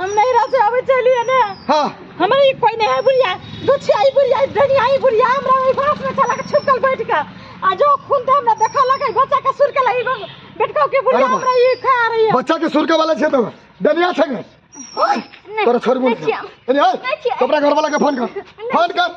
हम नैहरा से आबै छलियै ने हाँ हमरा ई कोई नहीं है बुढ़िया दुछिया ई बुढ़िया डनिया ई बुढ़िया हमरा ई बास में चला के छुपकल बैठ के आ जो खून तो हमरा देखा लगे बच्चा के सुर के लगी बेटका के बुढ़िया अरे बा। हमरा ई खा रही है बच्चा के सुरके वाला छे तो डनिया छे ने तोरा छोड़ बोल नहीं छिया। अरे हाय नहीं छिया। कपड़ा घर वाला के फोन कर फोन कर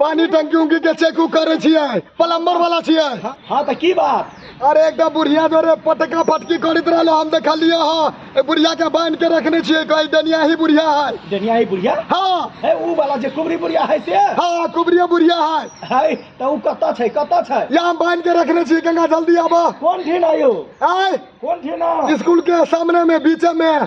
पानी टंकी उंकी के चेक उक करे छियै प्लम्बर वाला छियै हाँ, हाँ तो की बात अरे एकटा बुढ़िया जोरे पटका पटकी करैत रहलो हम देखलिए हाँ ए बुढ़िया के बांध के रखने छियै कहीं डनिया ही बुढ़िया है डनिया ही बुढ़िया हाँ है ऊ वाला जे कुबरी बुढ़िया है से हाँ कुबरिया बुढ़िया है है तो ऊ कतऽ छै कतऽ छै यहाँ बांध के रखने छियै गंगा जल्दी आबा कौन ठिन आयो आय कौन ठिन स्कूल के सामने में बीचे में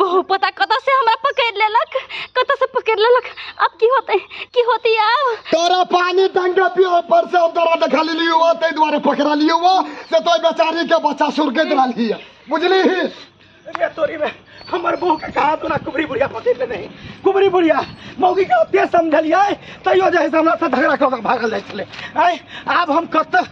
बहु पता कतऽ से हमरा पकड़ लेलक कतऽ से पकड़ लेलक अब की होते की होती अब तोरा पानी डंडा पियो पर से हम तोरा देखा लेली हुआ ताहि दुआरे पकड़ा लियो हुआ से तो बेचारी के बच्चा सुरके दिला लिया बुझली ही अरे तोरी में हमर बहू के कहा तोरा कुबरी बुढ़िया पकड़ ले नहीं कुबरी बुढ़िया मौगी के ओते समझलिए तैयो जे है से हमरा से झगड़ा कऽ के भागल जाइ छलै आय आब हम कतऽ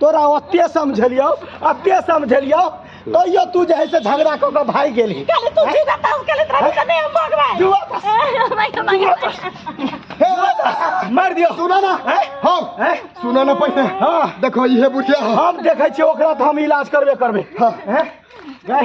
तोरा ओते समझलियौ ओते समझलियौ तैयो तू जे है से झगड़ा कऽ कऽ भागि गेलही काले तू जी का ताऊ काले तोरा से नहीं हम भगवान जुआ तास। भाई भाई हे बता, मारि दियौ सुनऽ ने हैं? हम हैं? सुनऽ ने पहिने हाँ। देखो इहे बुढ़िया हम देखै छियै ओकरा तऽ हम इलाज करबे करबै हाँ। हैं? गै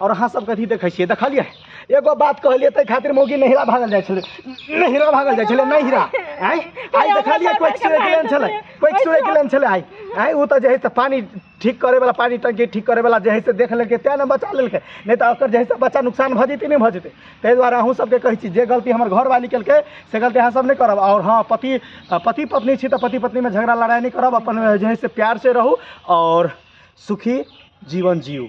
और अहाँ सब कथी देखै छियै देखलियै एगो बात कहलियै ताहि खातिर मौगी नहिरा भागल जाइ छलै नहिरा भागल जाइ छलै नहिरा आइ आइ देखलियै कोइ एक्सरे के लेन छलै कोइ एक्सरे के लेन छलै आइ आइ ओ तऽ जे है से पानी ठीक करे वाला पानी टंकी ठीक करे वाला जे है से देख लेलकै तें ने बचा लेलकै नहि तऽ ओकर जे है से बच्चा नुकसान भऽ जेतै नहि भऽ जेतै ताहि दुआरे अहूँ सबके कहै छी जे गलती हमर घरवाली केलकै से गलती अहाँ सब नहि करब आओर हँ पति पति पत्नी छी तऽ पति पत्नीमे झगड़ा लड़ाइ नहि करब अपन जे है से प्यार से रहू आओर सुखी जीवन जियू